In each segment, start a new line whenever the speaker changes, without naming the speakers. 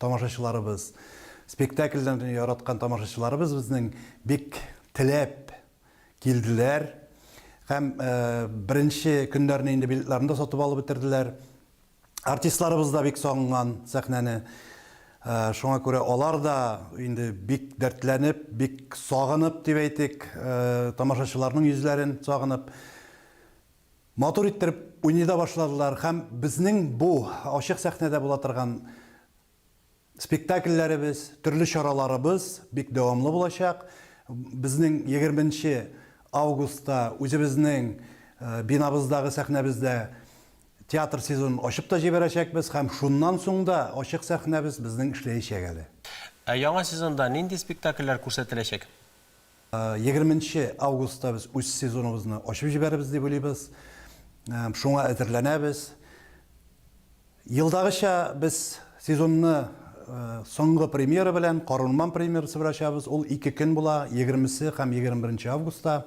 Тамашачыларыбыз, спектакльләрне яраткан тамашачыларыбыз безнең бик теләп килделәр һәм беренче көннәрне инде билетларны да сатып алып бетерделәр. Артистларыбыз да бик сагынган сәхнәне. Шуңа күрә алар да инде бик дәртләнеп, бик сагынып дип әйтик, тамашачыларның йөзләрен сагынып, Матур иттереп уйный да башладылар һәм безнең бу ачык сәхнәдә була торган спектакльләребез, төрле чараларыбыз бик дәвамлы булачак. Безнең егерме нче августта үзебезнең бинабыздагы сәхнәбездә театр сезонын ачып та җибәрәчәкбез һәм шуннан соң да ачык сәхнәбез безнең эшләячәк әле. Ә яңа сезонда нинди спектакльләр күрсәтеләчәк? Егерме нче августта без үз сезоныбызны ачып җибәрербез дип уйлыйбыз. Шуңа әзерләнәбез. Елдагыча без сезонны соңгы премьера белән, Карурман премьерасы белән ачабыз. Ул ике көн була, егермесе һәм егерме беренче августта.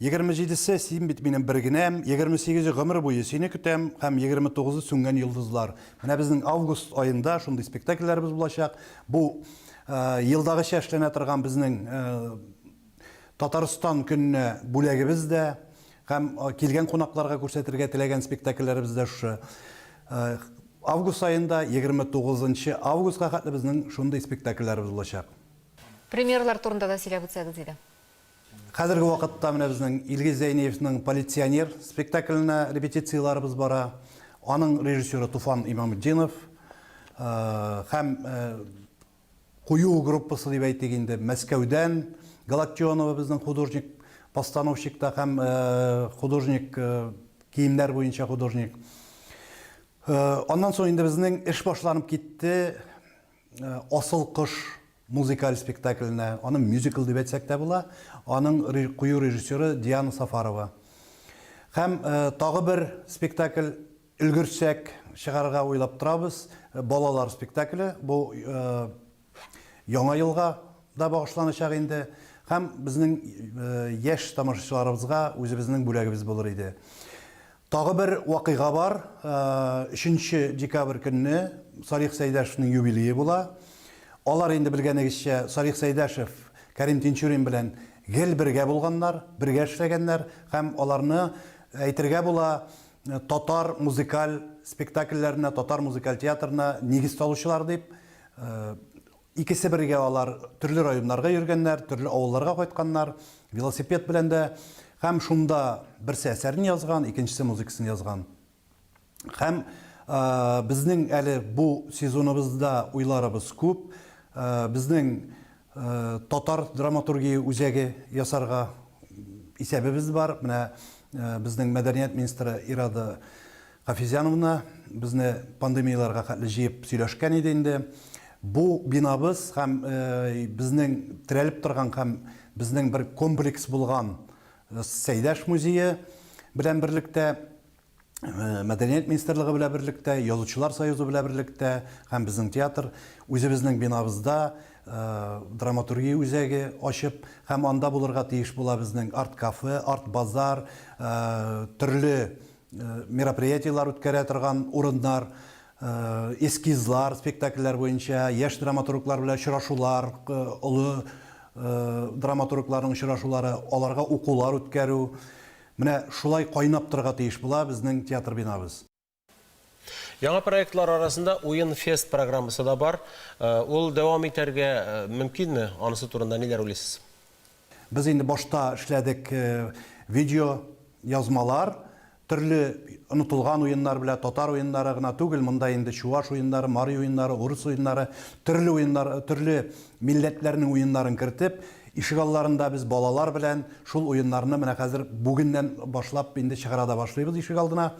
Егерме җидесе, син бит минем бер генәм, Егерме сигезе, гомер буе сине көтәм һәм Егерме тугызы, сүнгән йолдызлар. Менә безнең август аенда шундый спектакльләребез булачак. Бу елдагыча эшләнә торган безнең Татарстан көненә бүләгебез дә һәм килгән кунакларга күрсәтергә теләгән спектакльләребез дә шушы. Август аенда, егерме тугызынчы августка хәтле безнең шундый спектакльләребез булачак. Премьералар турында да сөйләп үтсәгез иде. Хәзерге вакытта менә безнең Илгиз Зәйниевның Полиционер спектакленә репетицияләребез бара. Аның режиссеры Туфан Имамутдинов һәм кую группасы дип әйтик инде Мәскәүдән Галактионова безнең художник постановщик та һәм художник киемнәр буенча художник. Аннан соң инде безнең эш башланып китте. Э, Асыл кош музыкаль спектакленә, аны мюзикл дип әйтсәк тә була, аның кую режиссеры Диана Сафарова. Һәм э, тагы бер спектакль өлгерсәк чыгарырга уйлап торабыз, э, балалар спектакле. Бу яңа елга да багышланачак инде һәм безнең яшь тамашачыларыбызга үзебезнең бүләгебез булыр иде. Тагы бер вакыйга бар. Өченче декабрь көнне Салих Сәйдәшевнең юбилее була. Алар инде белгәнегезчә Салих Сәйдәшев Кәрим Тинчурин белән гел бергә булганнар, бергә эшләгәннәр һәм аларны, әйтергә була, татар музыкаль спектакльләренә, татар музыкаль театрына нигез салучылар дип Икесе бергә алар төрле районнарга йөргәннәр, төрле авылларга кайтканнар, велосипед белән дә. Һәм шунда берсе әсәрен язган, икенчесе музыкасын язган. Һәм безнең әле бу сезоныбызда уйларыбыз күп. Безнең татар драматургия үзәге ясарга исәбебез бар. Менә безнең мәдәният министры Ирада Хафизяновна безне пандемияләргә хәтле җыеп сөйләшкән иде инде. Бу бинабыз һәм безнең терәлеп торган һәм безнең бер комплекс булган Сәйдәш музее белән берлектә, Мәдәният министрлыгы белән берлектә, Язучылар союзы белән берлектә һәм безнең театр үзебезнең бинабызда драматургия үзәге ачып һәм анда булырга тиеш була безнең арт-кафе, арт-базар, төрле мероприятиеләр үткәрә торган урыннар, эскизлар, спектакльләр буенча, яшь драматурглар белән очрашулар, олы драматургларның очрашулары, аларга укулар үткәрү. Менә шулай кайнап торырга тиеш була безнең театр бинабыз. Яңа проектлар арасында Уен-фест программасы да бар. Ул дәвам итәргә мөмкинме? Анысы турында ниләр уйлыйсыз? Без инде башта эшләдек видео язмалар, төрле онытылган уеннар белә, татар уеннары гына түгел, монда инде чуваш уеннары, мари уеннары, урыс уеннары, төрле уеннар, төрле милләтләрнең уеннарын кертеп, ишегалларында без балалар белән шул уеннарны менә хәзер бүгеннән башлап инде чыгара да башлыйбыз ишегалдына.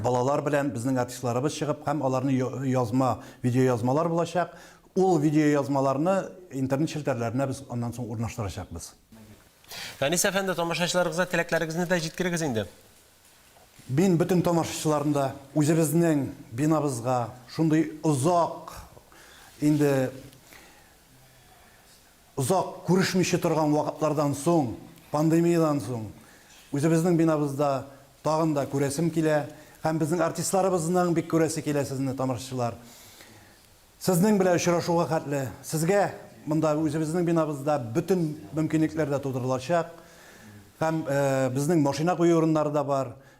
балалар белән безнең артистларыбыз чыгып һәм аларны язма, видеоязмалар булачак. Ул видеоязмаларны интернет челтәрләренә без аннан соң урнаштырачакбыз. Фәнис әфәнде, тамашачыларыгызга теләкләрегезне дә җиткерегез инде. Мин бөтен тамашачыларны да үзебезнең бинабызга шундый озак инде Озак күрешмичә торган вакытлардан соң, пандемиядән соң, үзебезнең бинабызда тагын да күрәсем килә һәм безнең артистларыбызның бик күрәсе килә сезне, тамашачылар. Сезнең белән очрашуга хәтле сезгә монда, үзебезнең бинабызда бөтен мөмкинлекләр дә тудырылачак һәм безнең машина кую урыннары да бар,